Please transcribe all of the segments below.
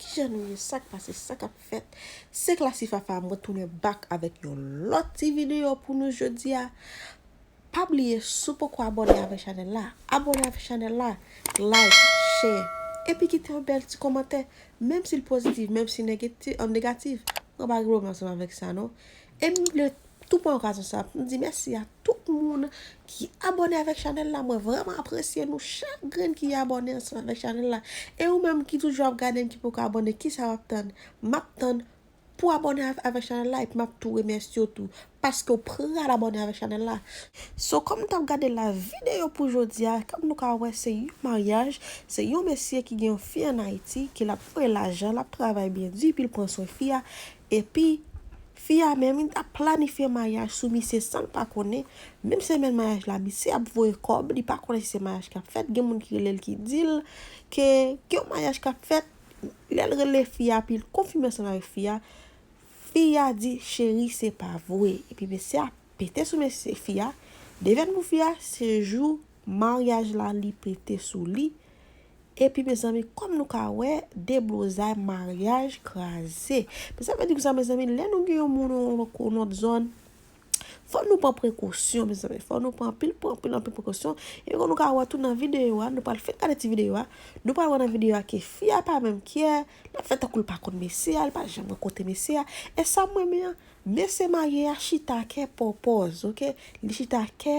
Kijan nou ye sak pase sa kap fèt se Classy Fafa mwen tounen back avèk yon lòt ti video pou nou jodia pa bliye si w poko abòne avè chanèl la abòne avè chanèl la like share epi kite yon bèl ti kòmantè menm si l pozitif menm si l negatif mwen pa gen pwoblèm ansanm avèk sa non E m vle tou pran okazyon sa pou m di mèsi a tout moun ki abòne avèk chanèl la mwen vrèman apresye nou chak grenn ki abòne ansanm avèk chanèl la e ou menm ki toujou ap gade m ki poko abòne kisa wap tann map tann pou abòne avèk chanèl la epi map tou remèsye w tou paske w pral abòne avèk chanèl la so kòm nou tap gade la videyo pou jodi a kòm nou ka wè se yon maryaj se yon mesye ki gen yon fi an ayiti ke lap voye lajan lap travay byen di epi l pran swen fi a Epi Fi a menm li ap planifye maryaj sou misye sanl pa konnen, menm semèn maryaj la misye ap voye kòb li pa konnen si se maryaj kap fèt gen moun ki relel ki dil ke gen yon maryaj kap fèt lèl rele fi a pil konfime ansanm avèk fi a fi a di cheri se pa vwe epi mesye a pete sou mesye fi a devèn pou fi a se jou maryaj la li pete sou li Epi mezanmi kòm nou ka wè deblozay maryaj kraze. Men sa vle di kisa mezanmi lè nou gen yon moun yon lòt zòn fòk nou pran prekosyon mezanmi fòk nou pran anpil anpil anpil prekosyon. Epi kòm nou ka wè tou nan videyo a nou pral fin gade ti videyo a nou pral wè nan videyo a ke fi a pa menm kyè l ap fè tankou l pa konn mesye a l pa janm wè kote mesye a. E sa m renmen an mesye marye a chita kè pòpòz ok li chita kè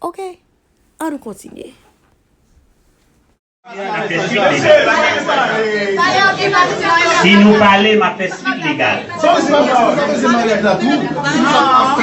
Ok! Ann kontinye. Si nou pale, m ap fè swit legal. Ok!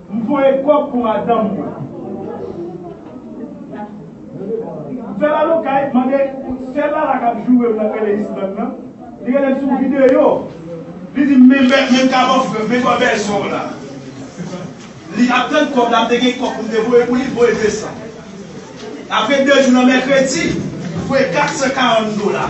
M voye kòb pou madanm mwen. M fè lalokay, mande sè Lala k ap joure m nan Tele Island nan. Li rele m sou videyo. Li di m men kaban frè m, men kòb èzò w la. Li ap tann kòb la, m te gen kòb pou m te voye pou li, m voye 200. Apre 2 jou nan mèkredi, m voye 440 dola.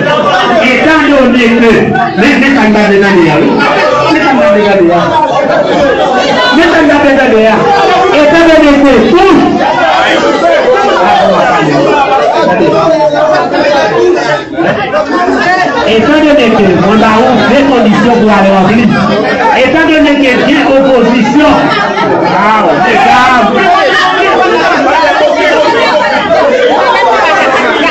Etan done ke, men men sa m ta vle tande a wi, men sa m ta vle tande a, men sa m ta vle tande a, etan done ke tou, etan done ke mwen ba ou de kondisyon pou ale ranpli, etan done ke gen opozisyon, waw mesye dam.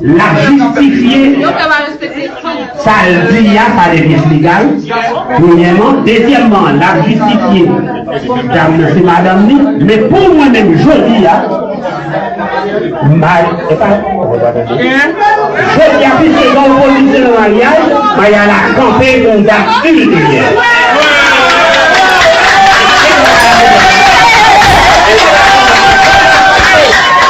Lap jistifye sal di a pa de pyès legal premyèman dezyèmman lap jistifye dam nan se madanm li men pou mwen menm jodi a Maya epa jodi a piske gen opozisyon nan maryaj Maya la kanpe pou yon dat ilteryè.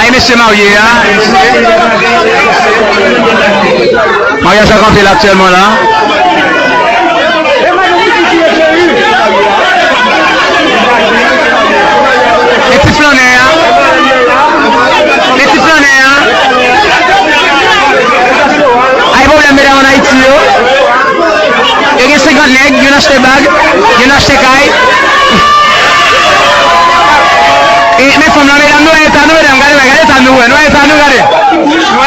Ay mesye marye a mesye maryaj la kanpe la aktyèlman la. E ti flannè a e ti flannè a ay pwoblèm medam an ayiti yo. Yo gen 50 nèg, youn achte bag, youn achte kay. Men fanm lan medam nou wè eta nou medam gade bagay gade eta nou wè nou wè eta nou gade nou wè.